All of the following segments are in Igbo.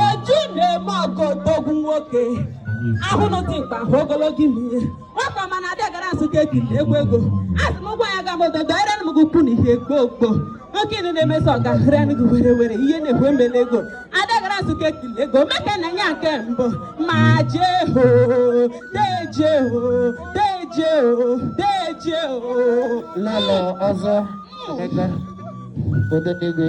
o ji na-eme ọgọ odogwu nwoke a hụnụ dimkpa a hụ ogologo imi ye nwata ọma na-adị agara nsụka ekiri egwu ego asị m ụgwọ ya ga m ododo ere m gị ukwu na ihe gboo gboo nwoke ịnụ na-emeso ọga hụrịa gị were were ihe na-ekwe mbele ego adị agara nsụka ekiri ego meke na ya nke mbụ ma jee ho deje ho deje ho deje ho lọlọ ọzọ emeka odenigwe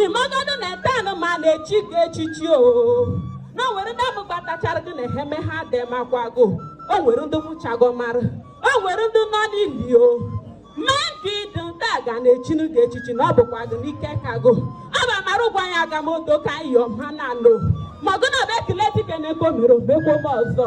ị magodu na etanụ ma na-echi gị echichi o na o nwere ndị amụgbatachara gị na eheme ha adịmakwagụ o nwere ndị nwụchago mara o nwere ndị nọ n'ili o ma nke ị dị nta ga na-echinu gị echichi na ọ bụkwa gị n'ike aka gụ ọ bụ amara ụgwọ anyị aga m odo ka anyị yọọ ha na anụ ma gụ na ọ bụ e kele dike na nke o mere o mekwaba ọzọ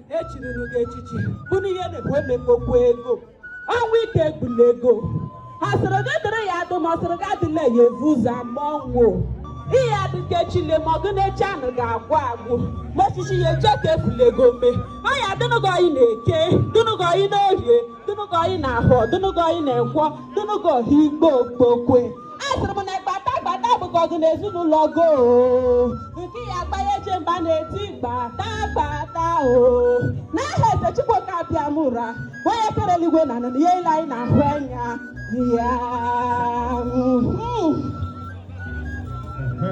echiruru gị echichi bụ na ihe na-ekwu emekpokwu ego ọnwa ike egbula ego ọ sịrị gị dịrị ya adụ ma ọ sịrị gị adịla ya evu ụzọ ama ọnwụ ị ya-adị ka echi le ma ọgụ na echi anụgụ agwụ agwụ ma osisi ya eche ike egbula ego mee ọ ya-adịnụ gị ọyị n'Eke dịnụ gị ọyị n'Orie dịnụ gị ọyị n'Ahọ dịnụ gị ọyị na Nkwọ dịnụ gị ọyị igbo okpokwe asịrị m na gbata gbata bụkwa gụ na ezinụlọ gụ nke ya gbanye je mba na-eti gbata gbata o n'aha eze chukwuoke abịama ụra onye kere eluigwe na ana na ihe ile anyị na-ahụ anya ya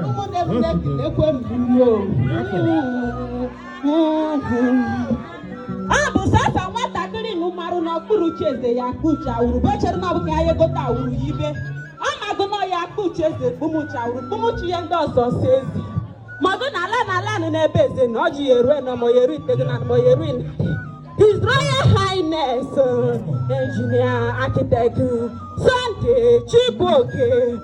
ụmụnne m na-ekele ekwe m ọ bụ sasa nwatakịrị nụmarụ n'okpuru uche eze ya kpuchi awuru bechere na ọ bụ ka ya egote awuru ya ibe ọ magụ na ya kpuchi eze kpumuchi awuru kpumuchi ihe ndị ọzọ so eze magụ na ala na ala nụ n'ebe eze na ọjị ya erue na mọya eru itego na mọya eru His Royal Highness uh, Engineer Architect Sunday Chibuoke